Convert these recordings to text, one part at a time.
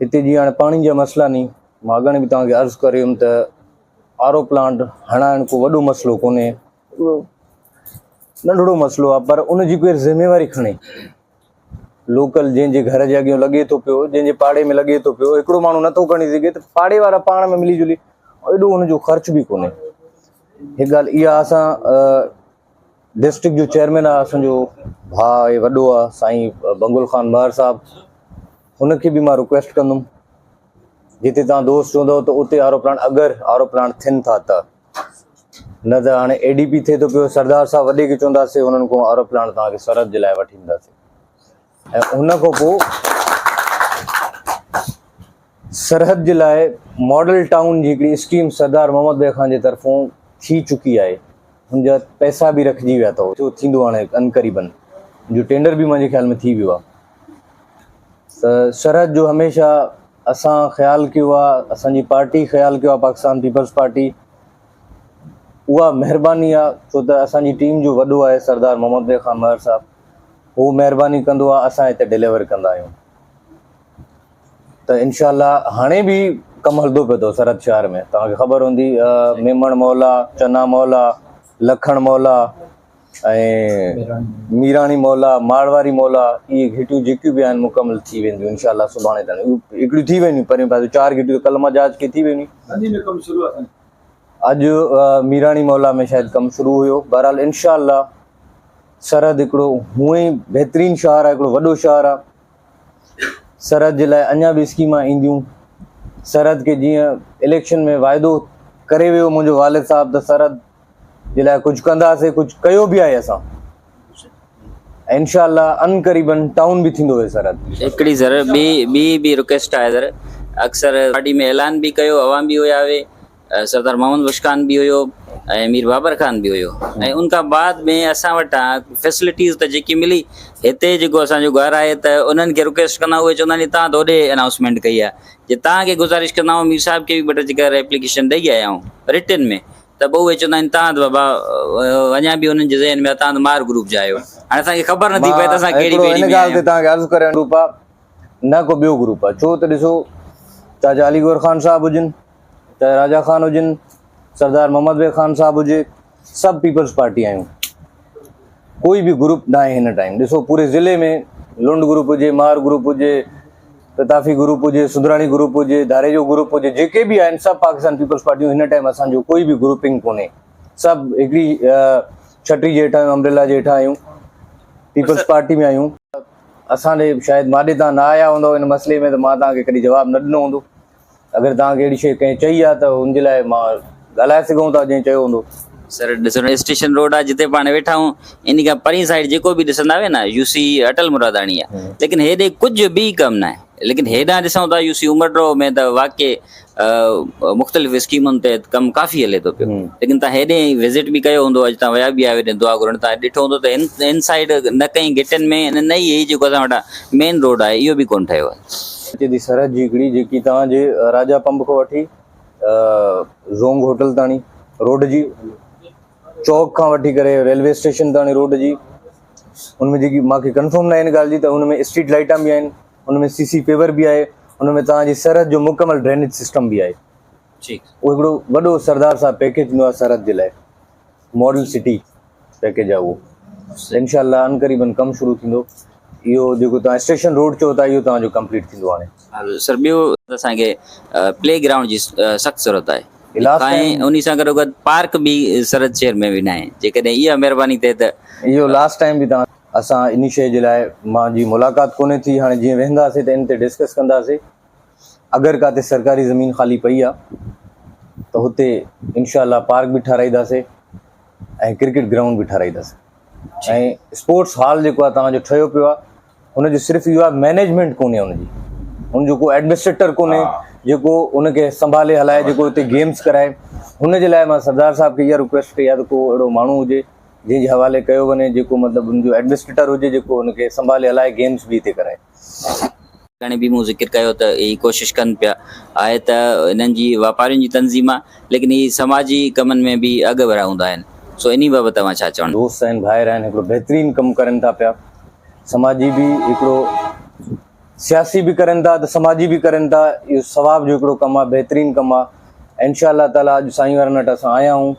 هتي جيئن هاڻي پاڻي جا مسئلا ني مان اڳاڻي به توهان کي عرض ڪري هيم ته آر او پلانٽ هڻائڻ ڪو وڏو مسئلو ڪونهي ننڍڙو مسئلو آ پر ان جي ڪير ذميواري کڻي لوڪل جن جي گھر جي اڳيون لڳي ٿو پيو جن جي پاڙي ۾ لڳي ٿو پيو هڪڙو ماڻهو نٿو کڻي سگھي ته پاڙي وارا پاڻ ۾ ملي جلي ايڏو ان جو خرچ به ڪونهي هڪ ڳالهه اها اسان ڊسٽرڪٽ جو چيئرمين آ اسان جو ڀاء آهي وڏو آ سائين بنگل خان مهر صاحب هن کي به مان رڪويسٽ ڪندم جتي تان دوست چوندو ته اتي آرو پلانٽ اگر آرو پلانٽ ٿين ٿا ته نه ته هاڻي اي ڊي پي ٿئي ٿو پيو سردار صاحب وڏي کي چونداسي هنن کان آرو پلانٽ تان کي سرحد جي لاء وٺي اينداسي ۽ ان کان پوء سرحد جي لاء ماڊل ٽائون جي هڪڙي اسڪيم سردار محمد بيگ خان جي طرفون ٿي چڪي آهي، ان جا پئسا به رکجي ويا اٿو، جو ٿيندو هاڻي عنقريبن، ان جو ٽينڊر به منهنجي خيال ۾ ٿي ويو آهي ته سرحد جو هميشه اسان خيال ڪيو آهي، اسان جي پارٽي خيال ڪيو آهي پاڪستان پيپلز پارٽي، اها مهرباني آهي ڇو ته اسان جي ٽيم جو وڏو آهي سردار محمد بيگ خان مهر صاحب. هو مهرباني ڪندو آهي اسان هتي ڊليور ڪندا آهيون ته انشاء الله هاڻي به ڪم هلندو پيو اٿو سرحد شهر ۾ توهان کي خبر هوندي ميمڻ مولا چنا مولا لکڻ مولا ميراڻي مولا مارواري مولا اي گھيٽيون جيڪيون به آهن مڪمل ٿي وينديون ان شاء الله سڀاڻي تائين هڪڙيون ٿي وينديون پرين پاسي چار گھيٽيون ڪلما جهاز کي ٿي وينديون اڄ ميراڻي مولا ۾ شايد ڪم شروع هيو بهرحال ان شاء الله سرحد هڪڙو هونء ئي بهترين شهر آهي، هڪڙو وڏو شهر آهي. سرحد جي لاء اڃا به اسڪيمان اينديون. سرحد کي جيئن اليڪشن ۾ واعدو ڪري ويو منهنجو والد صاحب ته سرحد جي لاء ڪجهه ڪنداسي، ڪجهه ڪيو به آهي اسان. انشاء الله ان قريبن ٽائون به ٿيندو هي سرحد. هڪڙي سر ٻي ٻي به رڪويسٽ آهي سر اڪثر پارٽي ۾ اعلان به ڪيو عوام به هيا هوي سردار محمد بخش خان به هيو ۽ مير بابر خان به هيو ۽ ان کان بعد ۾ اسان وٽان فيسلٽيز ته جيڪي ملي هتي جيڪو اسانجو گهر آهي ته انهن کي رڪويسٽ ڪندا اهي چوندا آهن تان ته هوڏي انائونسمينٽ ڪئي آهي جي تان کي گذارش ڪندا آهو مير صاحب کي به ٻه ٽي چڪر ايپليڪيشن ڏئي آيا آهيون رٽن ۾ ته پوء اهي چوندا آهن تان ته بابا اڃا به انهن جي ذهن ۾ تان ته مار گروپ جا آهيو هاڻي اسانکي خبر نٿي پئي ته اسان ڪهڙي ٻيڙي ۾ آهيون ان ڳالهه تي تان کي عرض ڪريان گروپ آهي نه ڪو ٻيو گروپ آهي ڇو ته ڏسو چاچا علي گوهر خان صاحب هجن ته راجا خان هجن، سردار محمد بيگ خان صاحب هجي، سڀ پيپلز پارٽي آهيون. ڪوئي به گروپ ناهي هن ٽائيم. ڏسو پوري ضلعي ۾ لنڊ گروپ هجي، مار گروپ هجي، قطافي گروپ هجي، سدراڻي گروپ هجي، ڌاريجو گروپ هجي، جيڪي به آهن سڀ پاڪستان پيپلز پارٽيون هن ٽائيم اسان جو ڪوئي به گروپنگ ڪونهي. سڀ هڪڙي ڇٽي جي هيٺان امبريلا جي هيٺان آهيون. پيپلز پارٽي ۾ آهيون. اسان ڏي شايد ماڏي تان نه آيا هوندؤ هن مسئلي ۾ ته مان توهان کي ڪڏهن جواب نه ڏنو هوندو. اگر توهان کي اهڙي شيء ڪنهن چئي آ ته ان جي لاء مان ڳالهائي سگهون ٿا جئين چيو هوندو. سر ڏسو نه اسٽيشن روڊ آ جتي پاڻ ويٺا آهيون انهي کان پرين سائيڊ جيڪو به ڏسندا آهيو نه يو سي اٽل مراداڻي آ ليڪن هيڏي ڪجهه به ڪم ناهي ليڪن هيڏانهن ڏسون ٿا يو سي عمر ڊرو ۾ ته واقعي مختلف اسڪيمن تحت ڪم ڪافي هلي ٿو پيو ليڪن توهان هيڏي وزٽ به ڪيو هوندو اڄ توهان ويا به آهيو هيڏي دعا گهرڻ توهان ڏٺو هوندو ته هن سائيڊ نه ڪئين گهٽين ۾ نه ئي هي جيڪو اسان وٽان مين روڊ آهي اهو به ڪونه ٺهيو آهي اتي جي سرحد جي ھڪڙي جيڪي توھان جي راجا پنب کان وٺي زونگ ھوٽل تاڻي روڊ جي چوڪ کان وٺي ڪري ريلوي اسٽيشن تاڻي روڊ جي ان ۾ جيڪي ماکي ڪنفرم نه آھن ڳالھ جي ته ان ۾ اسٽريٽ لائٽان به آھن ان ۾ سي سي پيور به آھي ان ۾ توھان جي سرحد جو مڪمل ڊرينيج سسٽم به آھي ٺيڪ اھو ھڪڙو وڏو سردار صاحب پيڪيج ڏنو آھي سرحد جي لاء ماڊل سٽي پيڪيج آهي اهو انشاء الله عنقريبن ڪم شروع ٿيندو اهو جيڪو توهان اسٽيشن روڊ چئو ٿا اهو توهان جو ڪمپليٽ ٿيندو هاڻي. سر ٻيو اسان کي پلي گرائونڊ جي سخت ضرورت آهي ۽ انهي سان گڏو گڏ پارڪ به سرحد شهر ۾ به ناهي جيڪڏهن اها مهرباني ٿئي ته اهو لاسٽ ٽائيم به توهان اسان انهي شيء جي لاء مان جي ملاقات ڪونهي ٿي هاڻي جيئن ويهنداسين ته ان تي ڊسڪس ڪنداسين. اگر ڪاتي سرڪاري زمين خالي پئي آ ته هتي انشاء الله پارڪ به ٺهرائيداسي ۽ ڪرڪيٽ گرائونڊ به ٺهرائيداسي ۽ اسپورٽس هال جيڪو آ توهان جو ٺهيو پيو آ ان جو صرف اهو آ مينيجمينٽ ڪونهي ان جي ان جو ڪو ايڊمنسٽريٽر ڪونهي جيڪو ان کي سنڀالي هلائي جيڪو هتي گيمز ڪرائي هن جي لاء مان سردار صاحب کي اها رڪويسٽ ڪئي آ ته ڪو اهڙو ماڻهو هجي جنهن جي حوالي ڪيو وڃي جيڪو مطلب ان جو ايڊمنسٽريٽر هجي جيڪو ان کي سنڀالي هلائي گيمز به هتي ڪرائي. ڪنهن به مون ذڪر ڪيو ته هي ڪوشش ڪن پيا آهي ته هنن جي واپارين جي تنظيم آهي ليڪن هي سماجي ڪمن ۾ به اڳ ورا هوندا آهن سو انهي بابت توهان ڇا چوڻ دوست آهن ڀائر آهن هڪڙو بهترين ڪم ڪرن ٿا پيا سماجي به هڪڙو سياسي به ڪرن ٿا ته سماجي به ڪرن ٿا اهو ثواب جو هڪڙو ڪم آهي بهترين ڪم آهي انشاء الله تعالي اڄ سائين وارن وٽ اسان آيا آهيون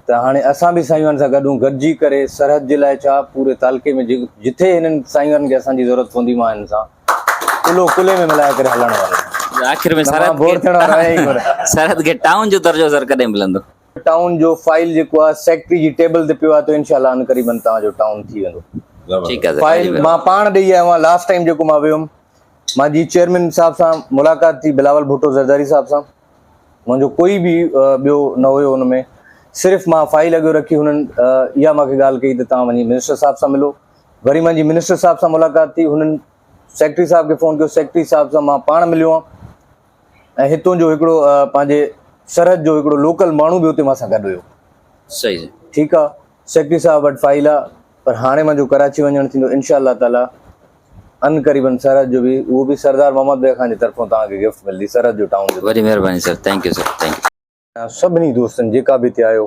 ته هاڻي اسان به سائينوارن سان گڏ هون گڏجي ڪري سرحد جي لاء ڇا پوري تعلقي ۾ جتي هنن سائينوارن کي اسان جي ضرورت پوندي مان هنن سان ڪلهو ڪلهي ۾ ملائي ڪري هلڻ وارو آهيان آخر ۾ سرحد بور ٿيڻ وارو آهيان ئي ڪونه سرحد کي ٽائون جو درجو سر ڪڏهن ملندو ٽائون جو فائل جيڪو آهي سيڪريٽري جي ٽيبل تي پيو آهي ته انشاء الله عنقريبن توهان جو ٽائون ٿي ويندو ٺيڪ آهي فائل مان پاڻ ڏيئي آيو آهيان لاسٽ ٽائيم جيڪو مان ويو هيم مان جي چيئرمين صاحب سان ملاقات ٿي بلاول ڀٽو زرداري صاحب سان منهنجو ڪوئي به ٻيو نه هيو ان ۾، صرف مان فائل اڳيو رکي هنن اها مانکي ڳالهه ڪئي ته توهان وڃي منسٽر صاحب سان ملو. وري منهنجي منسٽر صاحب سان ملاقات ٿي، هنن سيڪريٽري صاحب کي فون ڪيو، سيڪريٽري صاحب سان مان پاڻ مليو هان ۽ هتون جو هڪڙو پنهنجي سرحد جو هڪڙو لوڪل ماڻهو به اتي مان سان گڏ هيو. صحيح ٺيڪ آ. سيڪريٽري صاحب وٽ فائيل آ پر هاڻي منهنجو ڪراچي وڃڻ ٿيندو انشاء الله تعالي ان قريبن سرحد جو به اهو به سردار محمد بيگ خان جي طرفون توهان کي گفٽ ملدي سرحد جو ٽائون جو وڏي مهرباني sir thank you sir thank you. سڀني دوستن جيڪا به هتي آيو.